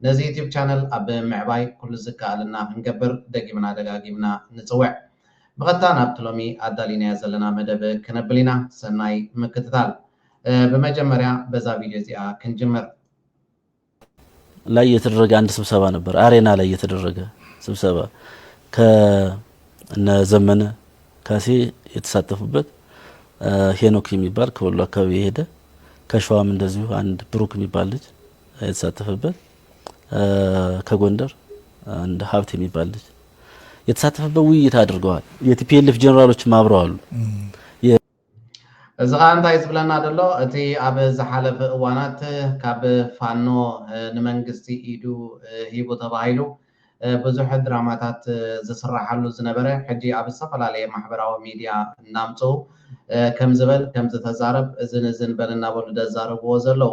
ነዚ ዩቱብ ቻነል ኣብ ምዕባይ ኩሉ ዝከኣለና ክንገብር ደጊምና ደጋጊምና ንጽውዕ። ብቐጥታ ናብቲ ሎሚ ኣዳሊናዮ ዘለና መደብ ክነብል ኢና። ሰናይ ምክትታል። ብመጀመርያ በዛ ቪድዮ እዚኣ ክንጅምር። ላይ የተደረገ አንድ ስብሰባ ነበር። አሬና ላይ የተደረገ ስብሰባ ከነ ዘመነ ካሴ የተሳተፉበት ሄኖክ የሚባል ከወሎ አካባቢ የሄደ ከሸዋም እንደዚሁ አንድ ብሩክ የሚባል ልጅ የተሳተፈበት ከጎንደር አንድ ሀብት የሚባል ልጅ የተሳተፈበት ውይይት አድርገዋል። የቲፒኤልፍ ጀኔራሎችም አብረው አሉ። እዚ ከዓ እንታይ ዝብለና ደሎ እቲ ኣብ ዝሓለፈ እዋናት ካብ ፋኖ ንመንግስቲ ኢዱ ሂቡ ተባሂሉ ብዙሕ ድራማታት ዝስራሓሉ ዝነበረ ሕጂ ኣብ ዝተፈላለየ ማሕበራዊ ሚድያ እናምፅኡ ከምዝበል ከምዝተዛረብ እዝን እዝን በል እናበሉ ደዛረብዎ ዘለው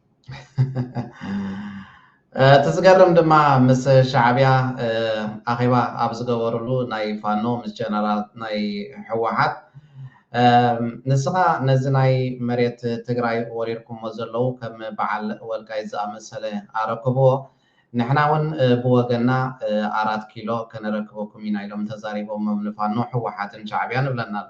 እቲ ዝገርም ድማ ምስ ሻዕብያ ኣኼባ ኣብ ዝገበርሉ ናይ ፋኖ ምስ ጀነራል ናይ ህወሓት ንስኻ ነዚ ናይ መሬት ትግራይ ወሪርኩሞ ዘለዉ ከም በዓል ወልቃይ ዝኣመሰለ ኣረክብዎ ንሕና እውን ብወገና ኣራት ኪሎ ከነረክበኩም ኢና ኢሎም ተዛሪቦሞም ንፋኖ ህወሓትን ሻዕብያን እብለና ኣሎ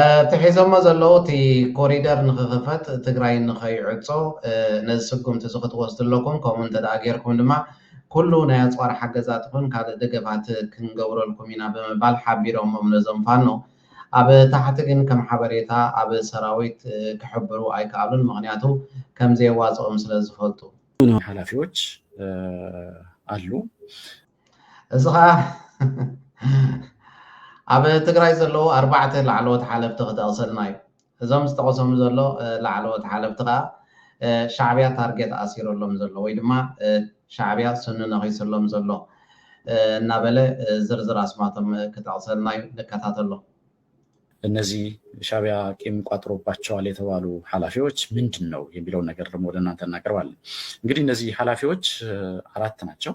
እቲ ሒዞሞ ዘለዉ እቲ ኮሪደር ንክኽፈት ትግራይ ንከይዕፆ ነዚ ስጉምቲ እዚ ክትወስዱ ኣለኩም ከምኡ እንተደኣ ጌርኩም ድማ ኩሉ ናይ ኣፅዋር ሓገዛት ይኹን ካልእ ደገፋት ክንገብረልኩም ኢና ብምባል ሓቢሮሞም ነዞም ፋኖ ኣብ ታሕቲ ግን ከም ሓበሬታ ኣብ ሰራዊት ክሕብሩ ኣይከኣሉን ምክንያቱ ከምዘየዋፅኦም ስለዝፈልጡ ኃላፊዎች አሉ። እዚ ከዓ ኣብ ትግራይ ዘለዉ ኣርባዕተ ላዕለዎት ሓለፍቲ ክጠቕሰልና እዩ እዞም ዝጠቐሶም ዘሎ ላዕለዎት ሓለፍቲ ከዓ ሻዕብያ ታርጌት ኣሲረሎም ዘሎ ወይ ድማ ሻዕብያ ስኑ ነኺስሎም ዘሎ እናበለ ዝርዝር ኣስማቶም ክጠቕሰልና እዩ ንከታተሎ እነዚህ ሻቢያ ቂም ቋጥሮባቸዋል የተባሉ ኃላፊዎች ምንድን ነው የሚለውን ነገር ደግሞ ወደ እናንተ እናቀርባለን። እንግዲህ እነዚህ ኃላፊዎች አራት ናቸው።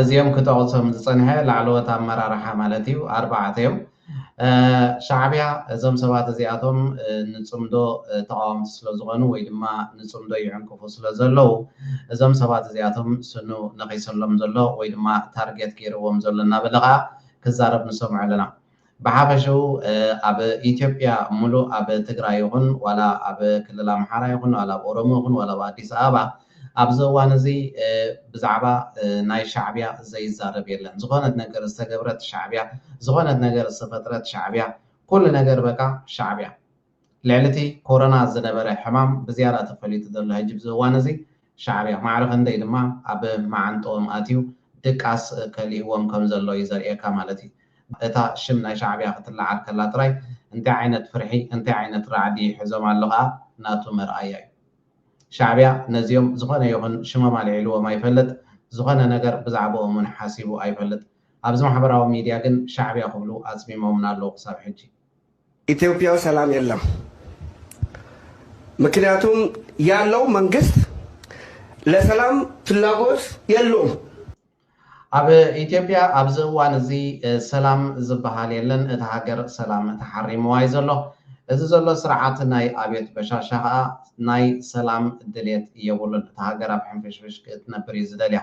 እዚኦም ክጠቕሶም ዝጸንሐ ላዕለዎት ኣመራርሓ ማለት እዩ ኣርባዕተ እዮም። ሻዕብያ እዞም ሰባት እዚኣቶም ንጽምዶ ተቓወምቲ ስለ ዝኾኑ ወይ ድማ ንጽምዶ ይዕንቅፉ ስለ ዘለዉ እዞም ሰባት እዚኣቶም ስኑ ነኺሰሎም ዘሎ ወይ ድማ ታርጌት ገይርዎም ዘሎ እናበለ ከኣ ክዛረብ ንሰምዖ ኣለና። ብሓፈሽኡ ኣብ ኢትዮጵያ ምሉእ ኣብ ትግራይ ይኹን ዋላ ኣብ ክልል ኣምሓራ ይኹን ዋላ ኣብ ኦሮሞ ይኹን ዋላ ኣብ ኣዲስ ኣበባ ኣብዚ እዋን እዚ ብዛዕባ ናይ ሻዕቢያ ዘይዛረብ የለን ዝኾነት ነገር ዝተገብረት ሻዕቢያ ዝኾነት ነገር ዝተፈጥረት ሻዕቢያ ኩሉ ነገር በቃ ሻዕቢያ ልዕሊቲ ኮሮና ዝነበረ ሕማም ብዝያዳ ተፈሊጡ ዘሎ ሕጂ ብዚ እዋን እዚ ሻዕብያ ማዕረ ክንደይ ድማ ኣብ ማዓንጥኦም ኣትዩ ድቃስ ከሊእዎም ከም ዘሎ እዩ ዘርእየካ ማለት እዩ። እታ ሽም ናይ ሻዕብያ ክትለዓል ከላ ጥራይ እንታይ ዓይነት ፍርሒ እንታይ ዓይነት ራዕዲ ሕዞም ኣሎ ከኣ ናቱ መርኣያ እዩ። ሻዕብያ ነዚኦም ዝኾነ ይኹን ሽሞም ኣልዒልዎም ኣይፈልጥ ዝኾነ ነገር ብዛዕብኦም ውን ሓሲቡ ኣይፈልጥ። ኣብዚ ማሕበራዊ ሚድያ ግን ሻዕብያ ክብሉ ኣጽሚሞምና ኣለዉ ክሳብ ሕጂ። ኢትዮጵያ ሰላም የለም ምክንያቱም ያለው መንግስት ለሰላም ፍላጎት የለውም። ኣብ ኢትዮጵያ ኣብዚ እዋን እዚ ሰላም ዝበሃል የለን። እታ ሃገር ሰላም ተሓሪምዋ እዩ ዘሎ። እዚ ዘሎ ስርዓት ናይ ኣብዮት በሻሻ ከዓ ናይ ሰላም ድሌት የብሉን። እታ ሃገር ኣብ ሕንፍሽፍሽ ክትነብር እዩ ዝደልያ።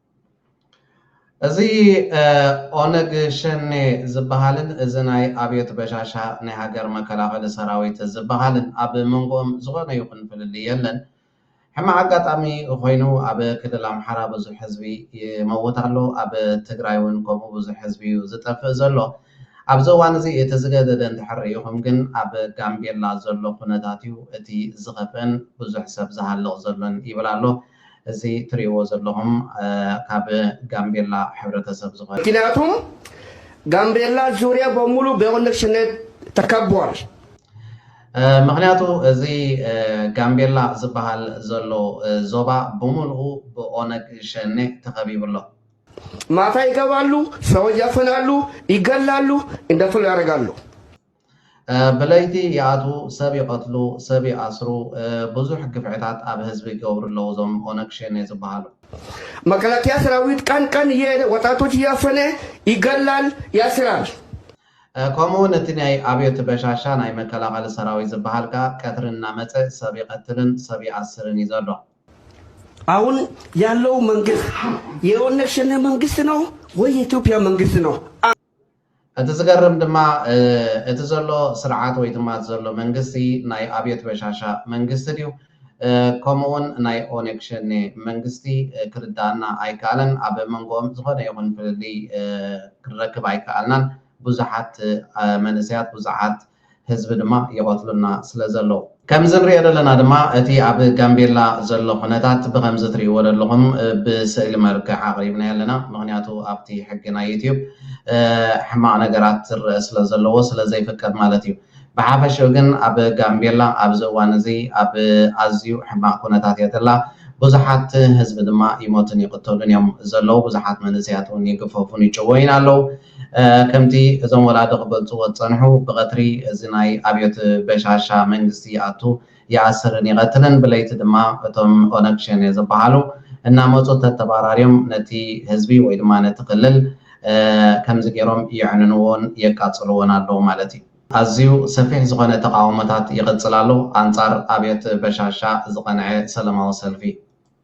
እዚ ኦነግ ሸኔ ዝበሃልን እዚ ናይ ኣብዮት በሻሻ ናይ ሃገር መከላኸሊ ሰራዊት ዝበሃልን ኣብ መንጎኦም ዝኾነ ይኹን ፍልልይ የለን። ሕማቕ ኣጋጣሚ ኾይኑ ኣብ ክልል ኣምሓራ ብዙሕ ህዝቢ ይመውት ኣሎ፣ ኣብ ትግራይ እውን ከምኡ ብዙሕ ህዝቢ እዩ ዝጠፍእ ዘሎ። ኣብዚ እዋን እዚ እቲ ዝገደደ እንድሕር ርኢኹም ግን ኣብ ጋምቤላ ዘሎ ኩነታት እዩ እቲ ዝኸፍእን ብዙሕ ሰብ ዝሃልቕ ዘሎን ይብል ኣሎ። እዚ ትሪእዎ ዘለኹም ካብ ጋምቤላ ሕብረተሰብ ዝኾነ። ምክንያቱም ጋምቤላ ዙርያ በሙሉ በኦነግ ሸኔ ተከቧል። ምክንያቱ እዚ ጋምቤላ ዝበሃል ዘሎ ዞባ ብምልኡ ብኦነግ ሸኔ ተኸቢቡ ኣሎ። ማታ ይገባሉ፣ ሰዎች ያፈናሉ፣ ይገላሉ፣ እንደፈሉ ያረጋሉ። ብለይቲ ይኣትዉ ሰብ ይቀትሉ ሰብ ይኣስሩ ብዙሕ ግፍዕታት ኣብ ህዝቢ ይገብሩ ኣለዉ እዞም ኦነግ ሸኔ ዝባሃሉ። መከላከያ ሰራዊት ቀን ቀን እየሄደ ወጣቶች እያፈነ ይገላል ያስራል። ከምኡ ውን እቲ ናይ ኣብዮት በሻሻ ናይ መከላኸሊ ሰራዊት ዝባሃል ከኣ ቀትሪ እናመጸ ሰብ ይቀትልን ሰብ ይኣስርን እዩ ዘሎ። ኣሁን ያለው መንግስት የኦነግ ሸኔ መንግስት ነው ወይ የኢትዮጵያ መንግስት ነው? እቲ ዝገርም ድማ እቲ ዘሎ ስርዓት ወይ ድማ እቲ ዘሎ መንግስቲ ናይ ኣብዮት በሻሻ መንግስቲ ድዩ ከምኡ ውን ናይ ኦነግ ሸኔ መንግስቲ ክርደኣና ኣይከኣለን። ኣብ መንጎኦም ዝኾነ ይኹን ፍልልይ ክንረክብ ኣይከኣልናን። ብዙሓት መንእሰያት ብዙሓት ህዝቢ ድማ ይቐትሉና ስለ ዘለዉ። ከምዚ ንሪኦ ደለና ድማ እቲ ኣብ ጋምቤላ ዘሎ ኩነታት ብኸምዚ ትሪእዎ ደለኹም ብስእሊ መልክዕ ኣቕሪብናዮ ኣለና ምኽንያቱ ኣብቲ ሕጊ ናይ ዩቱዩብ ሕማቕ ነገራት ዝርእ ስለ ዘለዎ ስለ ዘይፍቀድ ማለት እዩ ብሓፈሽኡ ግን ኣብ ጋምቤላ ኣብዚ እዋን እዚ ኣብ ኣዝዩ ሕማቕ ኩነታት እያ ዘላ ብዙሓት ህዝቢ ድማ ይሞቱን ይቕተሉን እዮም ዘለዉ ብዙሓት መንእሰያት እውን ይግፈፉን ይጭወዩን ኣለዉ ከምቲ እዞም ወላዲ ክገልጽዎ ዝጸንሑ ብቐትሪ እዚ ናይ ኣብዮት በሻሻ መንግስቲ ይኣቱ ይኣስርን ይቐትልን ብለይቲ ድማ እቶም ኦነግ ሸኔ ዝብሃሉ እናመጹ ተተባራርዮም ነቲ ህዝቢ ወይ ድማ ነቲ ክልል ከምዚ ጌሮም የዕንንዎን የቃጽልዎን ኣለዉ ማለት እዩ። ኣዝዩ ሰፊሕ ዝኾነ ተቓውሞታት ይቕጽል ኣሎ ኣንጻር ኣብዮት በሻሻ ዝቐንዐ ሰለማዊ ሰልፊ።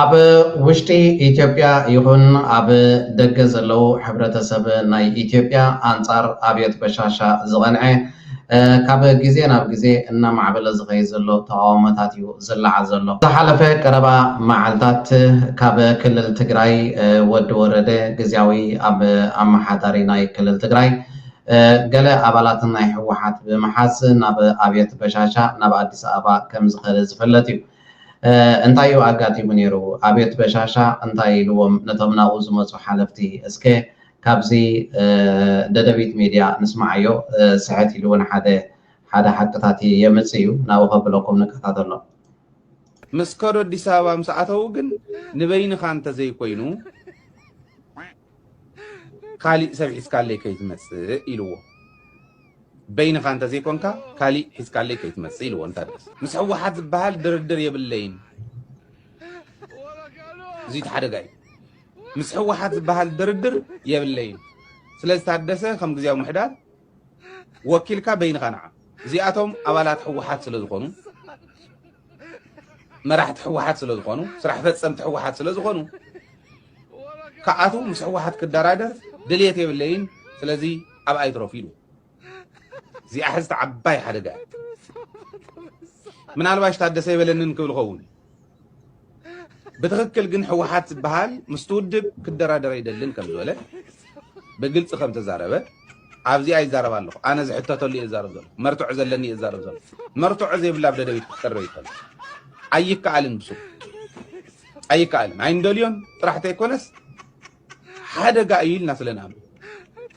ኣብ ውሽጢ ኢትዮጵያ ይኹን ኣብ ደገ ዘለዉ ሕብረተሰብ ናይ ኢትዮጵያ ኣንጻር ኣብዮት በሻሻ ዝቐንዐ ካብ ግዜ ናብ ግዜ እናማዕበለ ዝኸይ ዘሎ ተቃውሞታት እዩ ዝለዓል ዘሎ። ዝሓለፈ ቀረባ መዓልታት ካብ ክልል ትግራይ ወዲ ወረደ ግዝያዊ ኣብ ኣመሓዳሪ ናይ ክልል ትግራይ ገለ ኣባላት ናይ ህወሓት ብምሓዝ ናብ ኣብየት በሻሻ ናብ ኣዲስ ኣበባ ከም ዝኸደ ዝፍለጥ እዩ። እንታይ እዩ ኣጋጢሙ ነይሩ? ኣብየት በሻሻ እንታይ ኢልዎም ነቶም ናብኡ ዝመጹ ሓለፍቲ? እስከ ካብዚ ደደቢት ሚድያ ንስምዓዮ። ስሕት ኢሉ እውን ሓደ ሓደ ሓቅታት የምጽእ እዩ። ናብኡ ከብለኩም ንከታተሎ። ምስ ከዱ ኣዲስ ኣበባ ምስ ኣተዉ ግን ንበይንኻ እንተዘይኮይኑ፣ ካሊእ ሰብ ሒዝካለይ ከይትመፅእ ኢልዎ በይንኻ እንተዘይኮንካ ካሊእ ሒዝካለይ ከይትመፅእ ኢልዎ እንታ ምስ ሕወሓት ዝበሃል ድርድር የብለይን እዙይ እቲ ሓደጋ እዩ ምስ ሕወሓት ዝበሃል ድርድር የብለይን ስለዚ ታደሰ ከም ግዜያዊ ምሕዳር ወኪልካ በይንኻ ንዓ እዚኣቶም ኣባላት ሕወሓት ስለ ዝኾኑ መራሕቲ ሕወሓት ስለ ዝኾኑ ስራሕ ፈፀምቲ ሕወሓት ስለ ዝኾኑ ክኣቱ ምስ ሕወሓት ክደራደር ድልየት የብለይን ስለዚ ኣብ ኣይትረፉ ኢሉ እዚኣ ሕዝቲ ዓባይ ሓደጋ ምናልባሽ ታደሰ ይበለንን ክብል ኸውን ብትክክል ግን ሕወሓት ዝበሃል ምስቲ ውድብ ክደራደር ኣይደልን ከም ዝበለ ብግልፂ ከም ተዛረበ ኣብዚ ኣይዛረብ ኣለኹ ኣነ ዝሕተተሉ እየ ዛረብ ዘሎ መርትዖ ዘለኒ እየ ዛረብ ዘሎ መርትዖ ዘይብላ ኣብ ደደቢት ክትቀርብ ይከል ኣይከኣልን ብሱ ኣይከኣልን ኣይንደልዮን ጥራሕ ተይኮነስ ሓደጋ እዩ ኢልና ስለ ንኣምን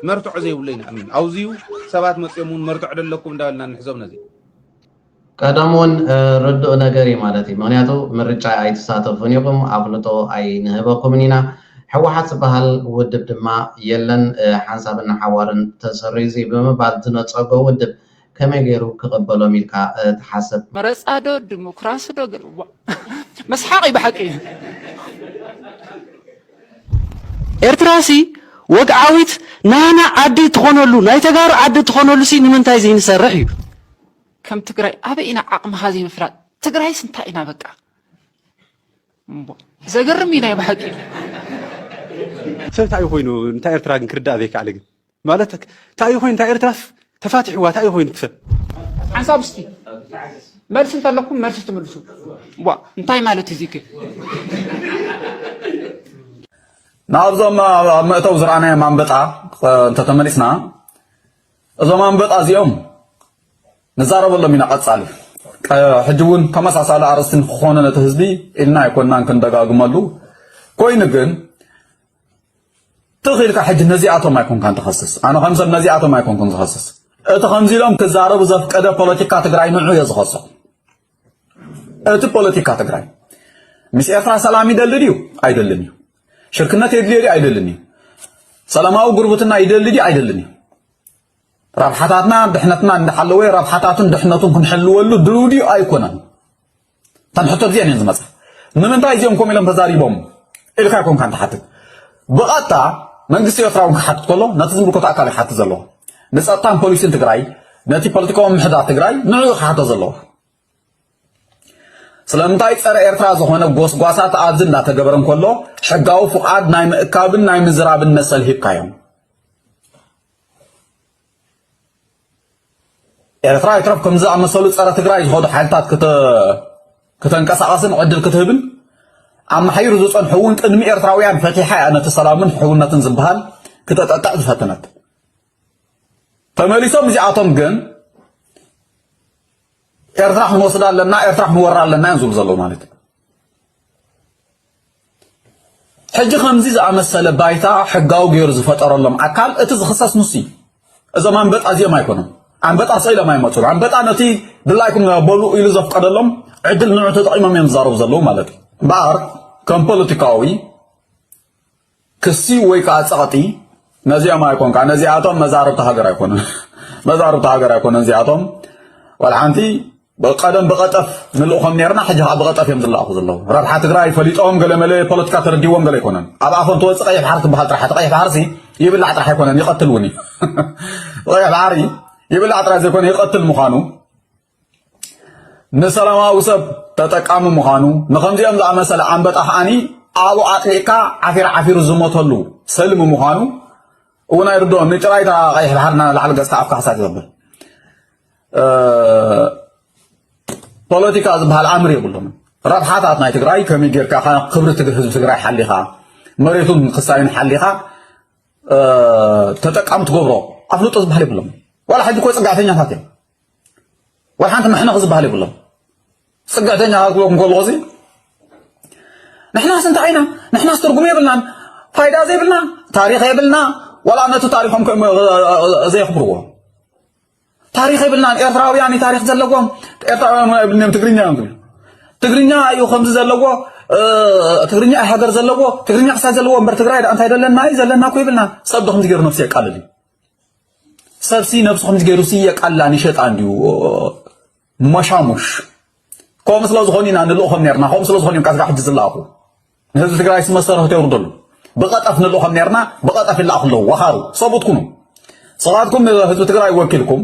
መርትዖ ዘይብሉ ይንኣምን ኣውዚዩ ሰባት መፅኦም እውን መርትዖ ደለኩም እንዳበልና ንሕዞም ነዚ ቀደም ውን ርዱእ ነገር እዩ ማለት እዩ ምክንያቱ ምርጫ ኣይትሳተፉን ኢኩም ኣፍልጦ ኣይንህበኩምን ኢና ሕወሓት ዝባሃል ውድብ ድማ የለን ሓንሳብን ንሓዋሩን ተሰሪዙ እዩ ብምባል ዝነፀጎ ውድብ ከመይ ገይሩ ክቅበሎም ኢልካ ትሓስብ። መረፃ ዶ ድሞክራሲ ዶ ገለ ዋእ መስሓቅ እዩ ብሓቂ። ኤርትራ ሲ ወግዓዊት ናህና ዓዲ ትኾነሉ ናይ ተጋሩ ዓዲ ትኾነሉ ሲ ንምንታይ ዝይንሰርሕ እዩ። ከም ትግራይ ኣበይ ኢና ዓቕምኻ ዘይምፍላጥ ትግራይስ እንታይ ኢና በቃ እምቦ ዘገርም እዩ ናይ ብሓቂ ሰብ እንታይ እዩ ኮይኑ እንታይ ኤርትራ ግን ክርዳእ ዘይከኣለ ግን ማለት እንታይ እዩ ኮይኑ እንታይ ኤርትራስ ተፋቲሕዋ እንታይ እዩ ኮይኑ ሰብ ሓንሳብ እስቲ መልሲ እንተለኩም መልሲ ትምልሱ ዋ እንታይ ማለት እዚ ግን ናብዞም ኣብ መእተው ዝረኣናዮም ኣንበጣ እንተተመሊስና እዞም ኣንበጣ እዚኦም ንዛረበሎም ኢና ቀጻሊ ሕጂ እውን ተመሳሳሊ ኣርእስቲ ንክኾነ ነቲ ህዝቢ ኢልና ኣይኮናን ክንደጋግመሉ ኮይኑ ግን ትኽ ኢልካ ሕጂ ነዚኣቶም ኣይኮንካን ትኸስስ ኣነ ከም ሰብ ነዚኣቶም ኣይኮንኩን ዝኸስስ እቲ ከምዚ ኢሎም ክዛረቡ ዘፍቀደ ፖለቲካ ትግራይ ንዑ እየ ዝኸሶ እቲ ፖለቲካ ትግራይ ምስ ኤርትራ ሰላም ይደሊ ድዩ ኣይደልን እዩ ሽርክነት የድልዮ ድዩ ኣይደልን እዩ? ሰላማዊ ጉርብትና ይደሊ ድዩ ኣይደልን እዩ? ረብሓታትና ድሕነትና እንዳሓለወ ረብሓታቱን ድሕነቱን ክንሕልወሉ ድልው ድዩ ኣይኮነን እተን ሕቶ እዚአን እየን ዝመፃ ንምንታይ እዚኦም ከምኡ ኢሎም ተዛሪቦም ኢልካ ይኮንካ ንትሓትት ብቐጥታ መንግስቲ ኤርትራ እውን ክሓትት ከሎ ነቲ ዝምልከቶ ኣካል ይሓትት ዘለዎ ንፀጥታን ፖሊሲን ትግራይ ነቲ ፖለቲካዊ ምሕዳር ትግራይ ንዕኡ ክሓቶ ዘለዎ ስለምንታይ ጸረ ኤርትራ ዝኾነ ጎስጓሳት ኣብዚ እናተገበረ እንከሎ ሕጋዊ ፍቓድ ናይ ምእካብን ናይ ምዝራብን መሰል ሂብካዮም ኤርትራ ይትረፍ ከም ዝኣመሰሉ ጸረ ትግራይ ዝኸዱ ሓይልታት ክተንቀሳቐስን ዕድል ክትህብን ኣመሓይሩ ዝጸንሑ እውን ቅድሚ ኤርትራውያን ፈቲሓ እያ ነቲ ሰላምን ሕውነትን ዝበሃል ክተጠጥዕ ዝፈተነት ተመሊሶም እዚኣቶም ግን ኤርትራ ክንወስዳ ኣለና ኤርትራ ክንወራ ኣለና እዮም ዝብሉ ዘለዉ ማለት እዩ ሕጂ ከምዚ ዝኣመሰለ ባይታ ሕጋዊ ገይሩ ዝፈጠረሎም ኣካል እቲ ዝኽሰስ ንሱ እዩ እዞም ኣንበጣ እዚኦም ኣይኮኑም ኣንበጣ ሰኢሎም ኣይመፁን ኣንበጣ ነቲ ድላይኩም በሉ ኢሉ ዘፍቀደሎም ዕድል ንዑ ተጠቂሞም እዮም ዝዛረቡ ዘለዉ ማለት እዩ እምበኣር ከም ፖለቲካዊ ክሲ ወይ ከዓ ጸቕጢ ነዚኦም ኣይኮን ከዓ ነዚኣቶም መዛርብቲ ሃገር ኣይኮነን መዛርብቲ ሃገር ኣይኮነን እዚኣቶም ወልሓንቲ ቀደም ብቐጠፍ ንልእኾም ነርና ሕጂ ከዓ ብቐጠፍ እዮም ዝለኣኹ ዘለዉ ረብሓ ትግራይ ፈሊጦም ገለመለ ፖለቲካ ተረዲዎም ገለ ኣይኮነን ኣብ ኣፎም ተወፅእ ቀይሕ ባሕሪ ትበሃል ጥራሕ እቲ ቀይሕ ባሕርሲ ይብላዕ ጥራሕ ኣይኮነን ይቐትል እውን እዩ ቀይሕ ባሕሪ ይብላዕ ጥራሕ ዘይኮነ ይቐትል ምዃኑ ንሰላማዊ ሰብ ተጠቃሚ ምዃኑ ንከምዚኦም ዝኣመሰለ ኣንበጣ ከዓኒ ኣብኡ ኣጥሊቕካ ዓፊር ዓፊሩ ዝሞተሉ ሰልሚ ምዃኑ እውን ኣይርድኦን ንጭራይ እታ ቀይሕ ባሕሪ ናላዕሊ ገጽካ ኣፍካ ክሳት ይብል ፖለቲካ ዝበሃል ኣምር የብሉን ረብሓታት ናይ ትግራይ ከመይ ጌርካ ክብሪ ህዝቢ ትግራይ ሓሊኻ መሬቱን ክሳዩን ሓሊኻ ተጠቃሚ ትገብሮ ኣፍልጦ ዝበሃል የብሎም ዋላ ሕጂ ኮ ፅጋዕተኛታት እዮም ወላ ሓንቲ መሕነቒ ዝበሃል የብሎም ፅግዕተኛ ክብለኩም ከለኹ እዚ ንሕናስ እንታይ ኢና ንሕናስ ትርጉም የብልናን ፋይዳ ዘይብልና ታሪክ የብልና ወላ ነቲ ታሪኮም ዘየኽብርዎ ታሪክ የብልናን ኤርትራውያን ታሪክ ዘለዎም ኤርትራውያን የብልናም ትግርኛ እዮም ዝብሉ ትግርኛ እዩ ከምዚ ዘለዎ ትግርኛ ሃገር ዘለዎ ትግርኛ ክሳብ ዘለዎ እምበር ትግራይ እንታይ ዘለና እዩ ዘለና እኮ ይብልና ሰብ ዶ ከምዚ ገይሩ ነብሲ የቃልል እዩ ሰብሲ ነብሱ ከምዚ ገይሩ ሲ የቃላ ንሸጣ እንዲዩ ሞሻሙሽ ከምኡ ስለ ዝኾኑ ኢና ንልእኾም ነርና ከምኡ ስለ ዝኾኑ እዮም ካብ ሕጂ ዝለኣኹ ንህዝቢ ትግራይ ሲ መሰረቱ የውርደሉ ብቐጠፍ ንልእኾም ነርና ብቐጠፍ ይለኣኹ ኣለዉ ወኻሩ ሰብኡት ኩኑ ሰባትኩም ህዝቢ ትግራይ ወኪልኩም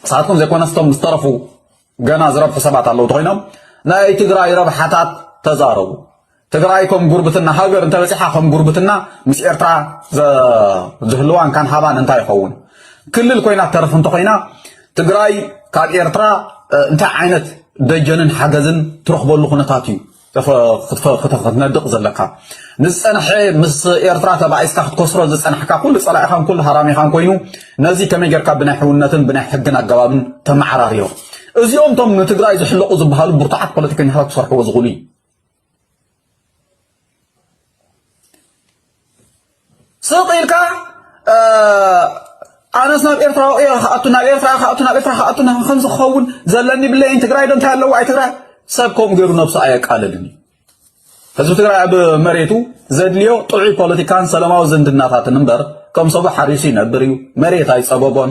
ንሳትኩም ዘይኮነስ እቶም ዝተረፉ ገና ዝረብሑ ሰባት ኣለዉ ተኾይኖም ናይ ትግራይ ረብሓታት ተዛረቡ ትግራይ ከም ጉርብትና ሃገር እንተበፂሓ ከም ጉርብትና ምስ ኤርትራ ዝህልዋን ካን ሃባን እንታይ ይኸውን ክልል ኮይና ተርፍ እንተኮይና ትግራይ ካብ ኤርትራ እንታይ ዓይነት ደጀንን ሓገዝን ትረኽበሉ ኩነታት እዩ ክትነድቕ ዘለካ ንዝጸንሐ ምስ ኤርትራ ተባኢስካ ክትከስሮ ዝጸናሕካ ኩሉ ጸላኢኻን ኩሉ ሃራሚኻን ኮይኑ ነዚ ከመይ ጌርካ ብናይ ሕውነትን ብናይ ሕግን ኣገባብን ተመዓራርዮ እዚኦም ቶም ንትግራይ ዝሕለቑ ዝበሃሉ ብርቱዓት ፖለቲከኛታት ክሰርሕዎ ዝኽእሉ እዩ ስቕ ኢልካ ኣነስ ናብ ኤርትራ እየ ክኣቱ ናብ ኤርትራ ክኣቱ ናብ ኤርትራ ክኣቱ ከምዚ ክኸውን ዘለኒ ብለይን ትግራይ ዶ እንታይ ኣለዎ ኣይ ትግራይ ሰብ ከምኡ ገይሩ ነብሱ ኣየቃልልን እዩ ህዝቢ ትግራይ ኣብ መሬቱ ዘድልዮ ጥዑይ ፖለቲካን ሰላማዊ ዝምድናታትን እምበር ከም ሰቡ ሓሪሱ ይነብር እዩ መሬት ኣይፀበቦን